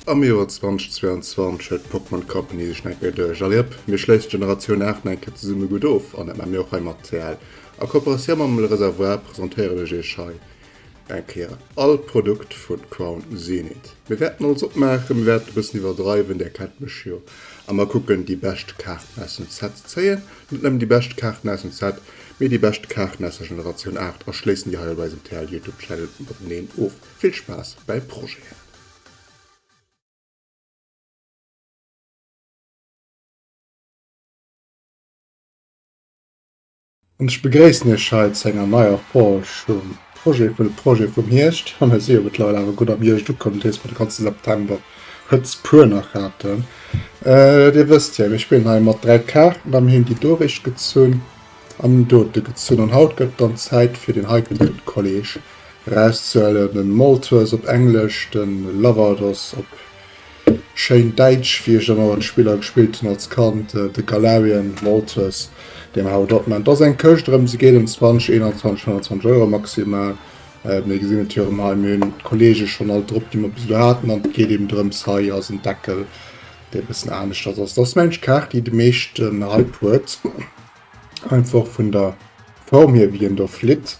Am Joer 2022 huet d'Pokémon Company sech nach eng Kéier duerch. Allez hop, mir schléissen d'Generatioun 8 nach eng Kéier zesumme gutt of an dat maache mir och hei mat CL. A Kooperatioun mam Le Réservoir presentéieren ech iech hei Eng Kéier all Produkt vun Crown Zenith. Mir wärten alles opmaachen, mir wärten e bëssen iwwerdreiwen, där kennt mech jo, a mer kucken déi bescht Kaarten aus dem Set ze zéien, net nëmmen déi bescht Kaarten aus dem Set, mee déi bescht Kaarten aus der Generatioun 8 a schléissen déi hei op eisem TL Youtube Channel mateneen of. Vill Spaass bäi Projeten! An ech begréissen Iech hei zu enger neier Page vum Projet vun de Projete vum Hierscht. An ech si jo mëttlerweil awer gutt am Hierscht ukomm, dat heescht mer de ganze September Hëtzt puer nach haten. Dir wësst jo, mir spillen hei mat dräi Kaarten a mir hunn déi doricht gezunn an dote gezunn. An haut gëtt et dann Zäit fir deen heikelen Kolleg erauszehuelen, den Malthus op Englesch, den Lavados op Schéin Däitsch, wéi ech ëmmer mat Spiller gespillt hunn als Kand, de Galarian Mortis, deen haut opmännt. Et ass eng Këscht, erëm, se geet ëm 20, 21, 25 Euro maximal. Mir gesinn et jo erëm hei, mir hunn d'Kollege schonn all drop, déi mer bis elo haten, an et geet eben drëms, hei ass en Deckel, dee e bëssen aneschters ass. Et ass mensch d'Kaart, déi de meeschten Hype huet, einfach vun der Form hier, wéi en do flitt.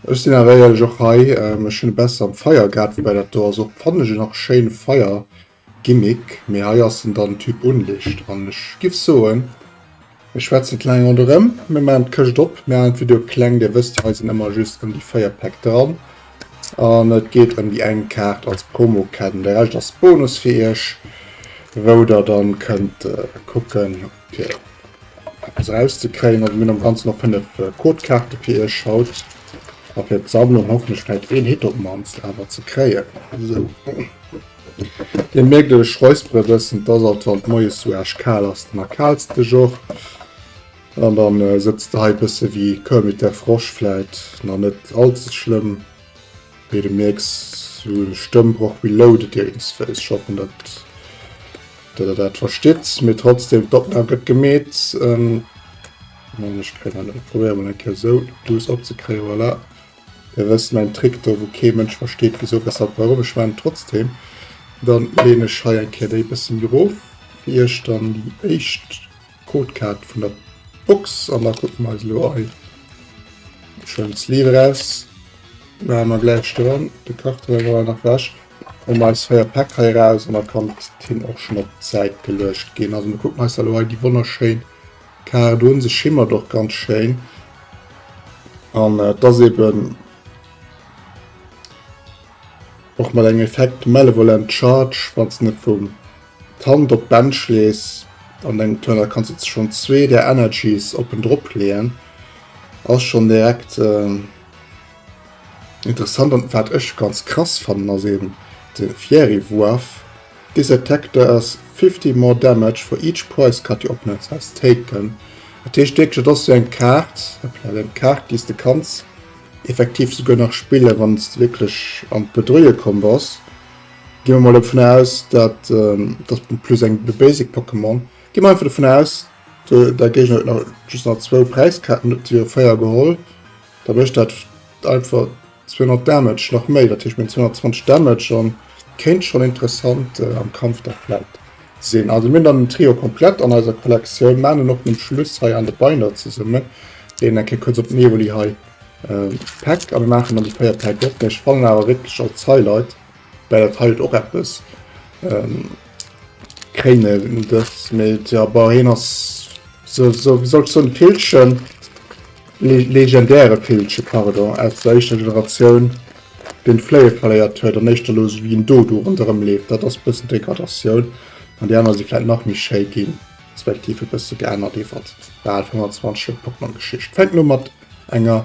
Ech sin awer eierlech och hei, ech hun e bessen am Feier gehaat, woubäi dat do ass och fannen ech en nach schéin Feier Gimmick, mee hei ass en dann Typ Unlicht an ech giff soen mir schwätzen kleng ronderem, mir maan d'Këscht op, mir haalen d'Video kleng, dir wësst jo hei sin ëmmer just em déi 4 Päck dran an et geet em déi eng Kaart als Promo Käden, de Rescht ass Bonus fir iech wou der dann kënnt kucken. fir eppes rauszekréien. Also mir hunn am Ganzen nach 5 Codekaarte fir iech haut a fir d'Sammlung. Hoffentlech fält een Hit op d'mannst awer ze kréien. So. Dir mierkt ech räuspere bëssen, dass alt wann d'Moies sou aarsch kal ass, den erkalste Joch. An dann äh, sëtzt de hei bësse wéi Kermit der Frosch, vläit nach net allze schlëmm. Wéi de mierks hu Stëmm och reloaded iewensféis. Ech hoffen dat der der dat verstitt, mee trotzdem d'Opnam gëtt gemeet. An ech kréien dat ech probéieren mol eng Kéier esou douce opzekréien, voilà. Der wësst mäin Trick do wou kee Mënsch versteet wisou weshalb warum. Ech maachen et trotzdem, dann leen ech hei eng Kéier déi e bësse méi erof fir iech dann déi éischt. Codekaart vun der Box an da kucke mer eis elo ei schonn Sleeve eraus. Maache mer gläich doran, de Karton ass awer nach wech. Hole mer eis 4 Päck hei eraus an da kann d'Tinn och schonn op d'Säit geluecht ginn. Also mir kucken eis elo hei déi wonnerschéin Kaart un, se schimmert och ganz schéin an et ass eben och mat engem Effekt Malevolent Charge, wann se net vum D'Hand op d'Bench lees an dengem Tunnel kanns de schonn zwee där Energies oppen drop leeën, ass schonn direkt interessant. An wat ech ganz krass fannen ass eben de Fieri Wuerf, This attack does 50 more damage for each prize card your opponent has taken. Dat heescht wierklech dat ass esou eng Kaart, hoppla, eng Kaart déi s de kanns effektiv souguer nach spillen, wann s de wierklech an d'Bedrueie komm bass. Gi mer mol dovun aus, dat dat ass plus eng de basic Pokémon. Gi mer einfach dovun aus, der Géigner huet nach just nach zwou Präiskarten, huet jo véier geholl. Da mécht dat einfach 200 Damage nach méi, dat heescht meng 220 Damage an kéint schonn interessant am Kampf da vläit sinn. Also mir hunn dann den Trio komplett an eiser Kollektioun. Maan en och nom Schluss hei an de Binder zesumme, deen eng Kéier kuerz op den Evoli hei packt. A mir maachen dann déi véier Päck op, mä ech fannen awer wierklech als Highlight Well dat heilt och eppes. Ähm, Kréine dës méet, ja, bah, heen ass so, so, wéi soll ech soen, Villchen, le legendäre Villche, pardon, aus der éischter Generatioun, deen d'Fléie verléiert huet an éischter elo esou wéi en Dodo ronderëm leeft. Dat ass e bëssen Degradatioun. An déi aner si vläicht nach méi schéi ginn, respektiv e bësse geännert iwwert, bah, 25 Joer Pokémon-Geschicht. Fänkt elo mat enger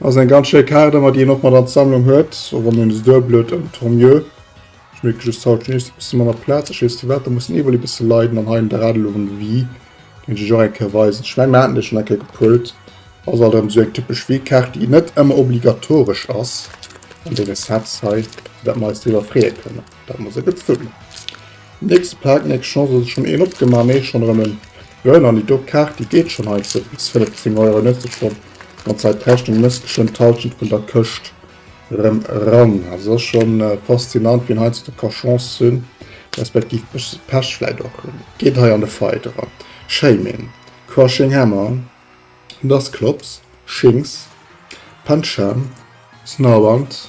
Ass eng ganz schéi Kaart, ëmmer déi een och mat an d'Sammlung huet, och wann en esou blöd ëm tant mieux. Ech mierke just haut just e bësse manner Plaz, ech weess net firwat, da muss den Evoli e bësse leiden an hei en Draht elo um Wii kéint ech iech och eng Kéier weisen. Ech menge mir haten dee schonn eng Kéier gepullt. Ass alt erëm esou eng typesch Wii-Kaart, déi net ëmmer obligatoresch ass an deene Sets hei, fir dat mer eis driwwer freeë kënnen. Dat muss e gëtt sinn. Nächste Pak, nächst Chance, ass et schonn een opgemaach? Nee, schonn erëm en. Jo, en Anni, do, d'Kaart déi geet schonn hei ze bis 15 Euro, en huet sech schonn ganz hei d'Rechnung gemooss, geschwënn d'Hallschent vun der Këscht erëm eran. Also ass scho faszinant, wien heiansdo ka Chance hunn, respektiv bëssche Pech vläit och hunn. Geet hei an de Fight eran. Shaming, Crushing Hammer, Dass Klops, Shinx, Pancham, Snorunt.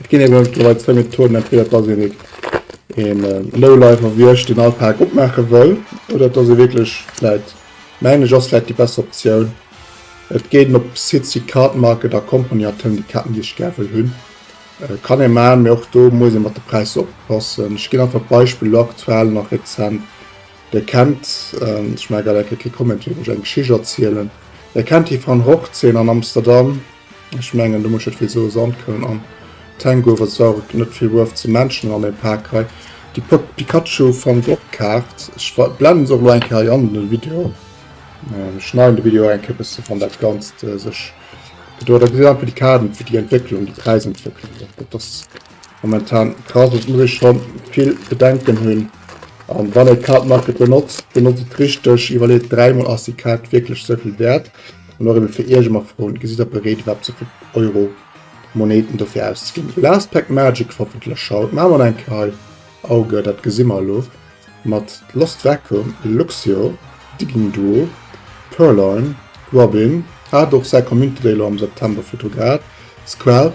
Et ginn ebe mittlerweil zwéi Methoden, entweder dass een et een Lowlife erwiecht deen all Paak opmaache wëll, oder dass ee wierklech vläit, mengen ech ass vläit déi besser Optioun, et geet op Sites wéi Cardmarket a Company a tëmmt déi Kaarten déi ech gär wëll hunn. Kann ee maachen, mee och do muss ee mat de Präisser oppassen. Ech ginn einfach d'Beispill elo aktuell nach rezent, Dir kennt, ech maache grad eng Kéier kee Comment fir iech eng Geschicht erzielen, Dir kennt déi Van Rogtseen an Amsterdam? Ech mengen do muss ech net vill soe, Sandkroun an Tangouf, ass awer net vill Worth ze mentionen an dem Pack hei. Déi Pop Pikachu Van Gogh Kaart, ech blenden se och elo eng Kéier hei an den Video, ech schneiden de Video eng Kéier e bësse wann dat Ganzt sech gedoen huet. Da gesitt een einfach déi Kaart, déi Entwécklung, déi Präisentwécklung, dat ass Momentan ka se zum Deel scho vill Bedenken hunn. An wann ee Card Market benotzt, benotzt et richteg, iwwerleet dräimol, ass déi Kaart wierklech esou vill wäert? An och ebe fir Iech ëmmer froen, gesitt der bereet iwwerhaapt esou vill Euro Moneten dofir auszeginn? Last Pack Magic hoffentlech haut. Maache mer nach eng Kéier hei Auge, dat gesi mer elo mat Lost Vacuum, Luxio, Digging Duo, Purrloin, Robin, hat och säi Community Day elo am September virdru gehat, Squelp,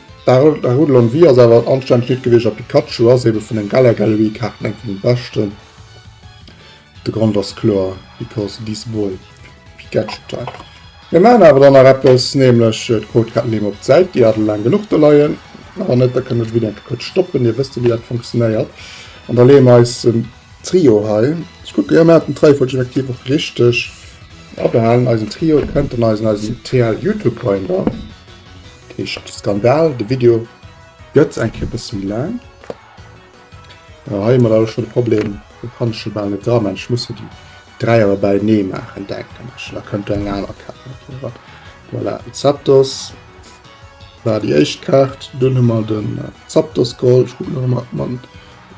D'Arulon Vee ass awer en anstännegt Lidd gewiescht a Pikachu ass ebe vun den Galar Gallery Kaarten eng vun de beschten. De Grond ass kloer, because this boy, Pikachu type. Mir maachen awer dann nach eppes, nämlech d'Codekaarten leeë mer op d'Säit, déi hate laang genuch do leien. A wann net, da kënnt der de Video eng Kéier kuerz stoppen, dir wësst jo wéi dat funktionéiert. An da leeë mer eisen Trio hei, ech kucke, jo mir haten d'Reiefolg effektiv och richteg, a behalen eisen Trio, kënnt dann eisen eisen TL Youtube Binder. Heescht Skandal, de Video gëtt eng Kéier e bësse méi laang. Hei hu mer leider scho de Problem, do kann ech jo bal net dra maachen, ech muss jo déi dräi awer bäinee maachen, denken ech. Da kënnt do eng aner Kaart mat driwwer. Voilà, den Zapdos war déi éischt Kaart. Dunn hu mer den Zapdos Gold, ech kucken nach ëmmer, ob mer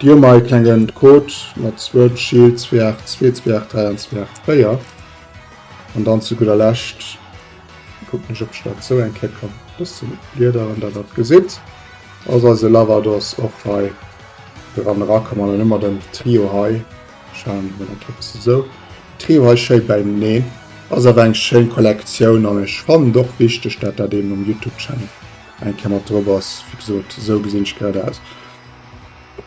déi hunn. Hei e klenge Code mat Sword Shield 282, 283 an 284. An dann zu gudder Lescht. Kuckt mech op ech dat sou eng Kéier kann bëssen bliederen dat dat gesitt. Ass eise Lavados och hei dran era kommen an dann hu mer den Trio hei schauen mech dat hei sou Trio hei schéi beineen. Ass awer eng schéin Kollektioun an ech fannen et och wichteg dat dat ee mam Youtube Channel eng Kéier mat drop ass. Wéi gesot sou gesinn ech grad aus.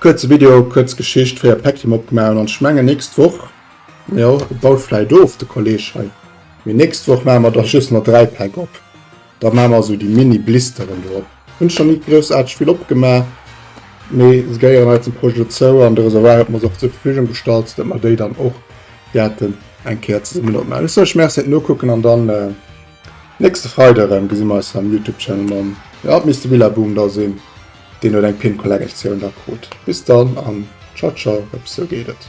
Kuerze Video, kuerz Geschicht, 4 Päckchen opgemaach hunn an ech mengen nächst Woch jo baut vläit of de Kolleg hei. Mee nächst Woch maache mer dach just nach 3 Päck op, da maache mer esou déi mini Blisteren do op. Hunn ech nach ni groussaarteg vill opgemaach, mee se gehéieren hei zum Projet dozou an de Reservoir huet mer se och zur Verfügung gestallt, dat mer déi dann och wäerten eng Kéier zesummen opmaachen. Ech soe lech Merci fir d'Nokucken an dann nächste Freide erëm gesi mer eis am Youtube Channel mam, jo et misst de Billabong da sinn, deen huet eng Pin-Collectioun da krut. Bis dann an Ciao ciao, eppes sou geet et.